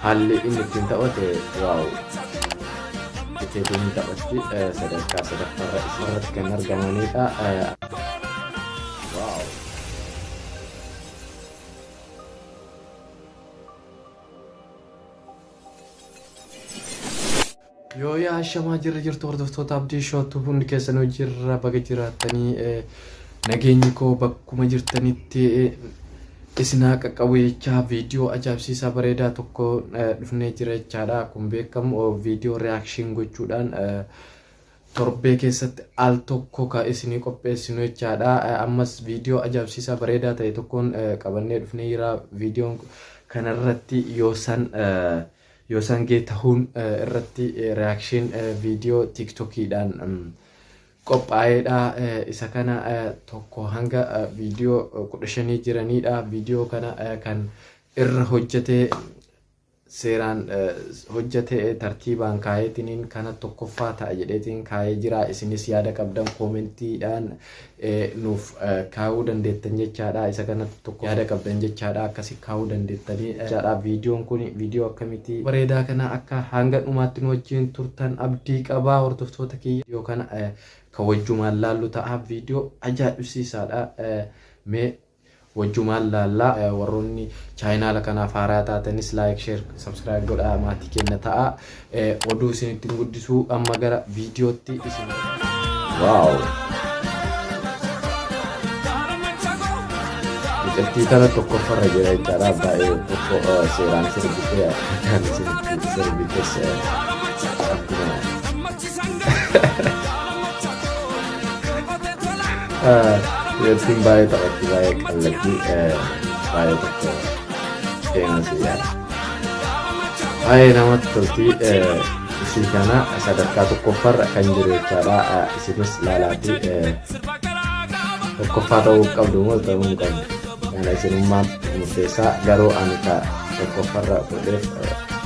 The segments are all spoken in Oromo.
Haalli inni ittiin taphate waaw Iteetuu ni taphatti eh, sadarkaa sadaffaarra isarratti kan argamanidha. Eh, Waaw. Yooyyaa ashamaa jirra jirtu hordoftoota abdii shootu hundi keessanuu jirra baga jiraattanii eh, nageenyi koo bakkuma jirtanitti eh, isin haa qaqqabu jechaa viidiyoo ajaa'ibsiisaa bareedaa tokko eh, dhufnee jira jechaadha kun beekamu oh, viidiyoo reaction gochuudhaan eh, torbee keessatti al tokko ka isinii qopheessinu jechaadha Eh, ammas viidiyoo ajaa'ibsiisaa bareedaa ta'e tokkoon eh, qabannee dhufnee jira viidiyoon kanarratti yoo san eh, Yoo sangee tahuun irratti reaction video tiktok dhaan qophaa'eedha. Isa kana tokko hanga video 15 jiraniidha. Video kana kan irra hojjete seeraan hojjete tartiibaan kaayeetiniin kana tokkoffaa ta'a jedheetiin kaayee jira. Isinis yaada qabdan koomentiidhaan nuuf kaa'uu dandeettan jechaadha. Isa kanatti tokko yaada qabdan jechaadha. Akkasi kaa'uu dandeettanii jechaadha. Viidiyoon kun viidiyoo akkamitii bareedaa kana akka hanga dhumaatti nu wajjin turtan abdii qaba hordoftoota kiyya. Viidiyoo kana ka wajjumaan laallu ta'a. Viidiyoo ajaa'ibsiisaadha. Mee Wajjumaan laalla warroonni chaayinaala kanaaf haaraa taatanis like share subscribe godhaa maatii keenna ta'a oduu isinitti hin guddisu amma gara viidiyootti isin waaw mucattii kana tokkoffarra jira jechaadha baay'ee tokko seeraan sirbitee kan isinitti sirbitee akkuma Yattiin baay'ee taphatti baay'ee qallatti baay'ee tokko seenaa siyyaadha. Baay'ee namatti tolti isii kana sadarkaa tokkoffaarra kan jiru jechaadha isinis laalaati tokkoffaa ta'uu qabdu moo ta'uu hin qabdu kana isinummaan murteessaa garuu ani ka tokkoffaarra godheef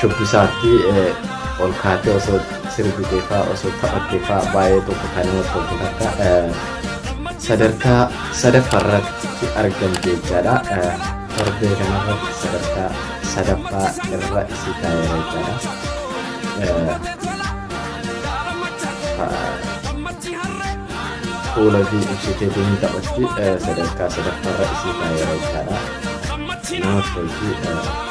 shubbisaatti ol kaatee osoo sirbiteefaa osoo taphatteefaa baay'ee tokko kan nama toltu takka sadarkaa sadaffaarratti argamte jechaadha. Torbee kanarratti sadarkaa sadaffaa irra isii taa'eera jechaadha. Fuula fi ibsitee deemee taphatti sadarkaa sadaffaarra isii taa'eera jechaadha. Nama tolti.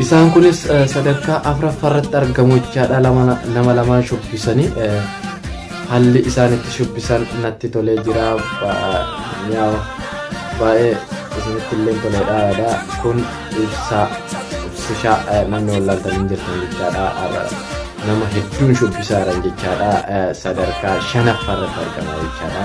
Isaan kunis sadarkaa afraffaarratti argamu jechaadha nama lamaan shubbisanii haalli isaan itti shubbisan natti tolee jira baay'ee isinitti illee toleedha yaada kun ibsaa ibsishaa namni wallaaltan hin jirtan jechaadha nama hedduun shubbisaa jiran jechaadha sadarkaa shanaffaarratti argama jechaadha.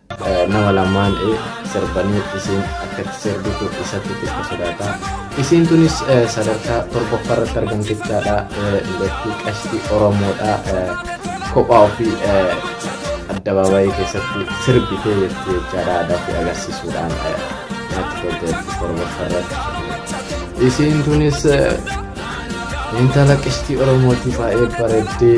Nama lamaan e sirbanii isiin akkatti sirbitu isatti xiqqa sodaata. Isiin tunis sadarkaa torbaffaa irratti argamti jechaadha. Dubartii qashtii Oromoodha. Kophaa ofii addabaabayii keessatti sirbitee jirti jechaadha. Aadaa ofii agarsiisuudhaan natti tolte jirti torbaffaa irratti. Isiin tunis intala qashtii Oromootii baay'ee bareeddii.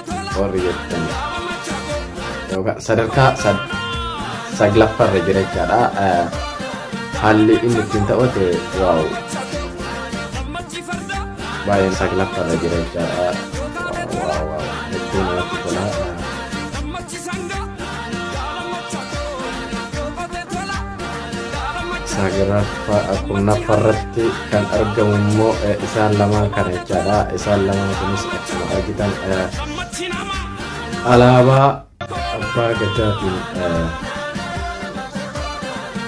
warri jettan yookaan sadarkaa sad- saglaffarra jira jechaadha Eh, haalli inni ittiin taphate waaw baay'een saglaffarra jira jechaadha waaw waaw waaw hedduu namatti tola Eh, saglaffaa kurnaffaa irratti kan argamu immoo eh, isaan lamaan kana jechaadha isaan lamaan kunis akkuma argitan eh, alaabaa abbaa gadaatiin eh,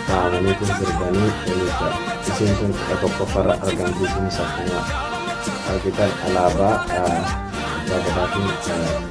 taa'anii kun sirbanii jechuudha isheen kun kudha tokkoffaa irra argamti kunis akkuma argitan alaabaa eh, abbaa gadaatiin eh,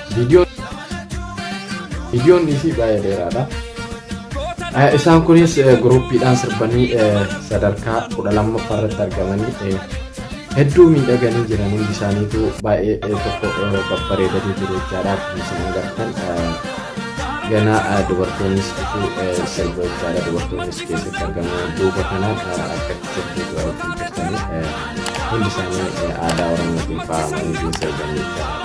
Viidiyoon isii baay'ee dheeraadha. Isaan kunis guruppiidhaan sirbanii sadarkaa kudha lammaffaa irratti argamanii hedduu miidhaganii jiran hundi isaaniitu baay'ee tokko babbareedanii jiru jechaadha. Akkuma isin agartan ganaa dubartoonnis dhufuu sirba jechaadha. Dubartoonnis keessatti argaman duuba kanaan akka sirbiitu argisiisanii hundi isaanii aadaa Oromootiin faayamanii jiru sirbanii jechaadha.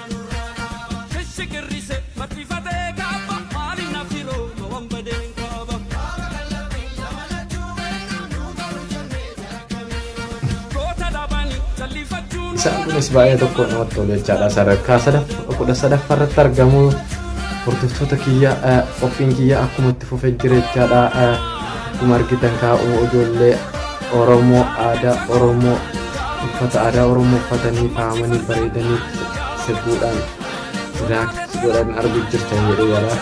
Isaan kunis baay'ee tokko namatti tolu jechaadha. Sadarkaa sadaffaa kudha sadaffaa irratti argamu hordoftoota kiyya eh, qophiin kiyya akkuma itti fufee jira jechaadha. Eh, Akkuma argitan kaa'u ijoollee Oromoo aadaa Oromoo uffata aadaa Oromoo uffatanii faayamanii bareedanii sirbuudhaan rilaaks godhan arguu jirtan jedhee yaada.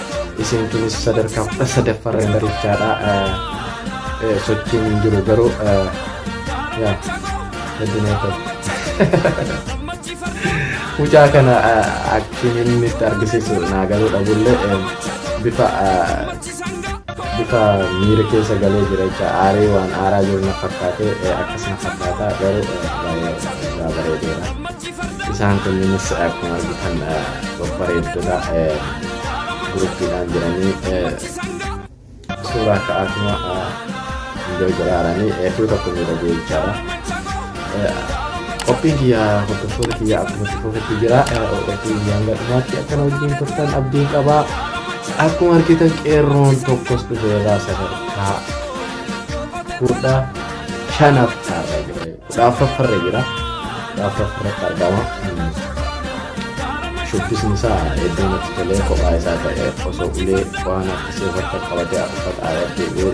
Isin kunis sadarkaa kudha sadaffaa irra barichaadha. Sochiin hin jiru garuu yaa heddunee ta'e. Mucaa kana akkiin inni itti argisiisu naa galuu dhabullee bifa bifa miira keessa galee jira jecha aaree waan aaraa jiru na fakkaate eh, akkas na fakkaata garuu eh, baay'ee irraa bareedeera isaan kunniinis eh, akkuma argitan eh, babbareeddota eh, guruppiidhaan jiranii eh, suuraa ka'aatuma eh, enjoy godhaaranii hedduu tokko miidhagee jechaadha Qophiin kiyya hordoftoota kiyya akkuma itti fufetti jira. Qophiin kiyya hanga dhumaatti akkana wajjin turtan abdiin qaba. Akkuma argitan qeerroon tokkos dhufeera sadarkaa kudha shanaaf taa'aa jira. Kudha afuraffarra jira. Kudha afuraffarratti argama. Shubbisni isaa iddoo natti tolee kophaa isaa ta'e osoo ulee waan harkisee wanta qabatee uffata aadaa deebi'ee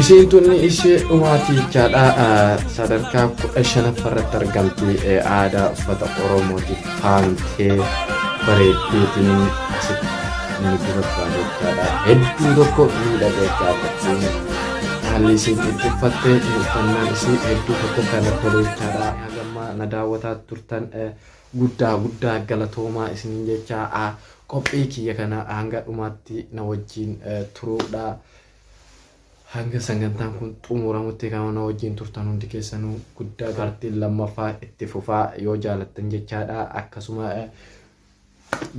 Isiin tun ishee dhumaati jechaadha sadarkaa kudha shanaffa irratti argamti aadaa uffata oromootiif faamtee bareeddeetiin asitti inni dubarfaa jechaadha hedduu tokko miidhaga jechaadha haalli isiin itti uffatte uffannaan isii hedduu tokko kan tolu jechaadha hagamma na daawwataa turtan guddaa guddaa galatoomaa isiniin jechaa Qophii kiyya kana hanga dhumaatti na wajjiin turuudha. Hanga sangantaan kun xumuramutti kan na wajjiin turtan hundi keessanuu guddaa partiin lammaffaa itti fufaa yoo jaalattan jechaadha. Akkasuma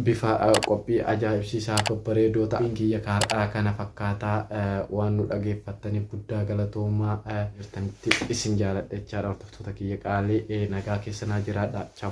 bifa qophii ajaa'ibsiisaa babbareedoo ta'an kiyya kaar'aa kana fakkaataa waan nu dhageeffattaniif guddaa galatoomaa jirtanitti isin jaaladha jechaadha. Hordoftoota kiyya qaalii nagaa keessanaa jiraadha. Chaw.